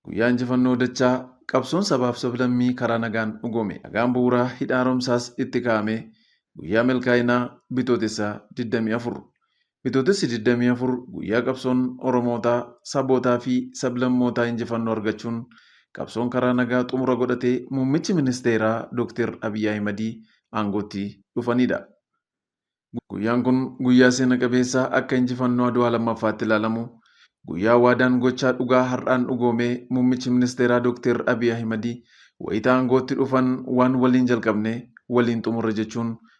Guyyaa injifannoo dachaa qabsoon sabaaf sablammii karaa nagaan dhugoome. Nagaan bu'uuraa hidha haaromsaas itti kaa'ame. Guyyaa milkaa'inaa Bitootessa 24. Bitootessi 24 guyyaa qabsoon Oromootaa, Sabootaa fi Sablammootaa injifannoo argachuun qabsoon karaa nagaa xumura godhatee Muummichi Ministeeraa Dooktar Abiy Ahimadii aangootti dhufaniidha. Guyyaan kun guyyaa seena qabeessa akka injifannoo Adwaa 2ffaatti ilaalamu, guyyaa waadaan gochaa dhugaa har'aan dhugoomee Muummichi Ministeeraa Dooktar Abiy Ahimadii wayita aangootti dhufan waan waliin jalqabne waliin xumurre jechuun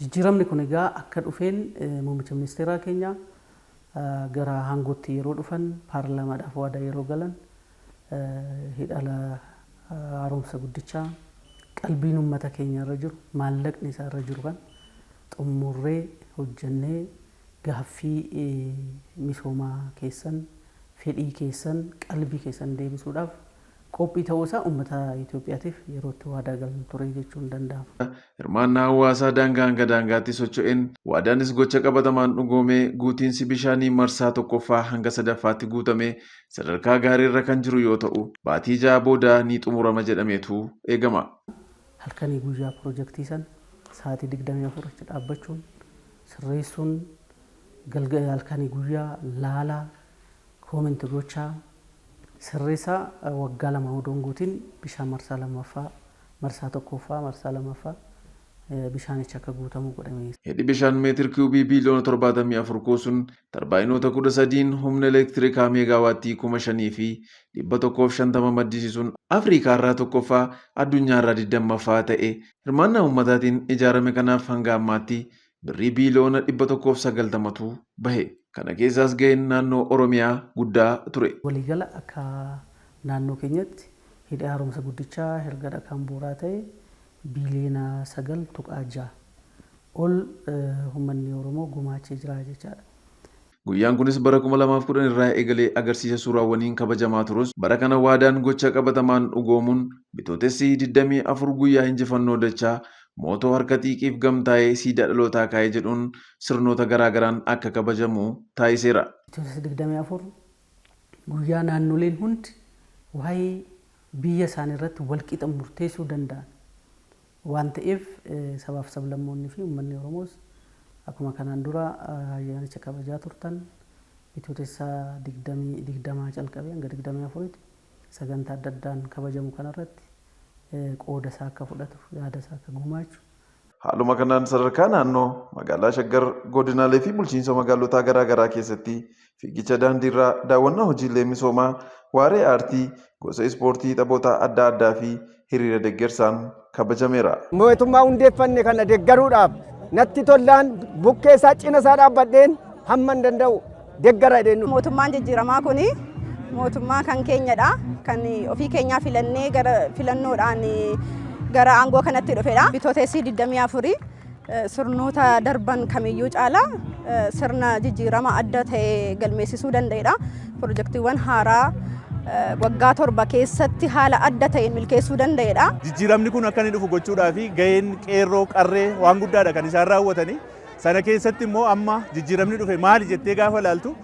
Jijjiiramni kun egaa akka dhufeen muummicha ministeeraa keenya gara aangootti yeroo dhufan paarlaamaadhaaf waadaa yeroo galan hidha haaromsa guddichaa qalbiin uummata keenya irra jiru maallaqni isaa irra jiru kan xumurree hojjennee gaaffii misoomaa keessan fedhii keessan qalbii keessan deebisuudhaaf qophii ta'uu isaa ummata Itoophiyaatiif yerootti waadaa gallu ture jechuun danda'ama. Hirmaannaa hawaasaa daangaa hanga daangaatti socho'een waadaanis gocha qabatamaan dhugoomee guutiinsi bishaanii marsaa 1ffaa hanga 3ffaatti guutamee sadarkaa gaariirra kan jiru yoo ta'u, baatii 6 booda ni xumurama jedhameetu eegama. Halkanii guyyaa pirojektii sana sa'aatii 24 achi dhaabbachuun sirreessuun, galga halkanii guyyaa laalaa, Comment gochaa sirreessaa waggaa lama odoo hin guutin bishaan marsaa lammaffaa marsaa tokkooffaa marsaa lammaffaa bishaanichi akka guutamu godha mee. Hidhi bishaan meetir kiyuubii biiliyoona 74 kuusun tarbaayinoota 13n humna elektirikaa meegaawaattii 5,150 maddisiisuun Afriikaarraa 1ffaa, addunyaarraa 20ffaa ta'e hirmaannaa ummataatiin ijaarame kanaaf hanga ammaatti birrii biiliyoona 190tu bahe. Kana keessaas gaheen naannoo Oromiyaa guddaa ture. Waliigala akka naannoo keenyatti Hidhi Haaromsa Guddichaa erga dhakaan bu'uuraa ta'ee biiliyoona 9.6 ol ummanni Oromoo gumaachee jira jechaadha. Guyyaan kunis bara 2010 irraa eegalee agarsiisa suuraawwaniin kabajamaa turus bara kana waadaan gocha qabatamaan dhugoomuun Bitootessi 24 guyyaa injifannoo dachaa mootoo harka xiiqiif gamtaa'ee siidaa dhalootaa kaa'e jedhuun sirnoota garaa garaan akka kabajamu taasiseera. Bitootessa 24 guyyaa naannoleen hundi waa'ee biyya isaaniirratti walqixa murteessuu danda'an waan ta'eef sabaaf sablammoonni fi ummanni Oromoos akkuma kanaan dura ayyaanicha kabajaa turtan Bitootessa 20 20 calqabee hanga 24tti sagantaa adda addaan kabajamu kanarratti qooda isaa akka fudhatu, yaada isaa akka gumaachu, Haaluma kanaan sadarkaa naannoo, magaalaa Shaggar, godinaalee fi bulchiinsa magaalotaa garaa garaa keessatti Fiigicha daandiirraa daawwannaa hojiilee misoomaa, waaree aartii, gosa ispoortii, taphoota adda addaa fi hiriira deggersaan kabajameera. Mootummaa hundeeffanne kana deggaruudhaaf natti tollaan bukkee isaa, cina isaa dhaabbadheen hamman danda'u deggara jedheen dhufe. Mootummaan jijjiiramaa kun mootummaa kan keenyadha. Kan ofii keenyaa filannee gara filannoodhaan gara aangoo kanatti dhufedha. Bitootessi 24 sirnoota darban kamiyyuu caalaa sirna jijjiirama adda ta'e galmeessisuu danda'edha. Pirojektiiwwan haaraa waggaa torba keessatti haala adda ta'een milkeessuu danda'edha. Jijjiiramni kun akka inni dhufu gochuudhaaf gaheen qeerroo qarree waan guddaadha kan isaan raawwatanii. Sana keessatti immoo amma jijjiiramni dhufe maali jettee gaafa ilaaltu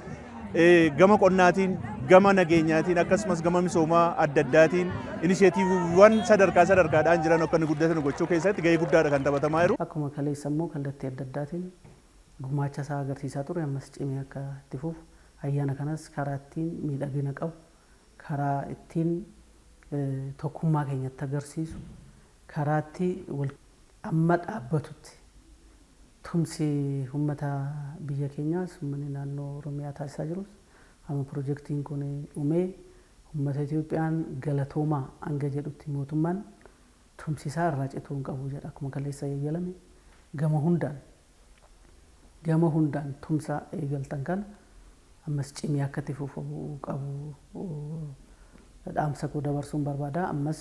Gama qonnaatiin, gama nageenyaatiin akkasumas gama misoomaa adda addaatiin inisheetiiviiwwan sadarkaa sadarkaadhaan jiran akka inni guddatan gochuu keessatti gahee guddaadha kan taphatamaa jiru. Akkuma kaleessa immoo kallattii adda addaatiin gumaacha isaa agarsiisaa ture ammas cimee akka itti fufu ayyaana kanas karaa ittiin miidhagina qabu, karaa ittiin tokkummaa keenya itti agarsiisu, karaa itti wal. amma dhaabbatutti tumsi ummata biyya keenyaas ummanni naannoo Oromiyaa taasisaa jirus amma pirojektiin kun dhumee ummata Itoophiyaan galatoomaa hanga jedhutti mootummaan tumsi isaa irraa cituu hin qabu jedha akkuma kaleessa yayyalame gama hundaan gama hundaan tumsa eegaltan kana ammas cimee akka itti fufu qabu dhaamsa koo dabarsuun barbaada ammas.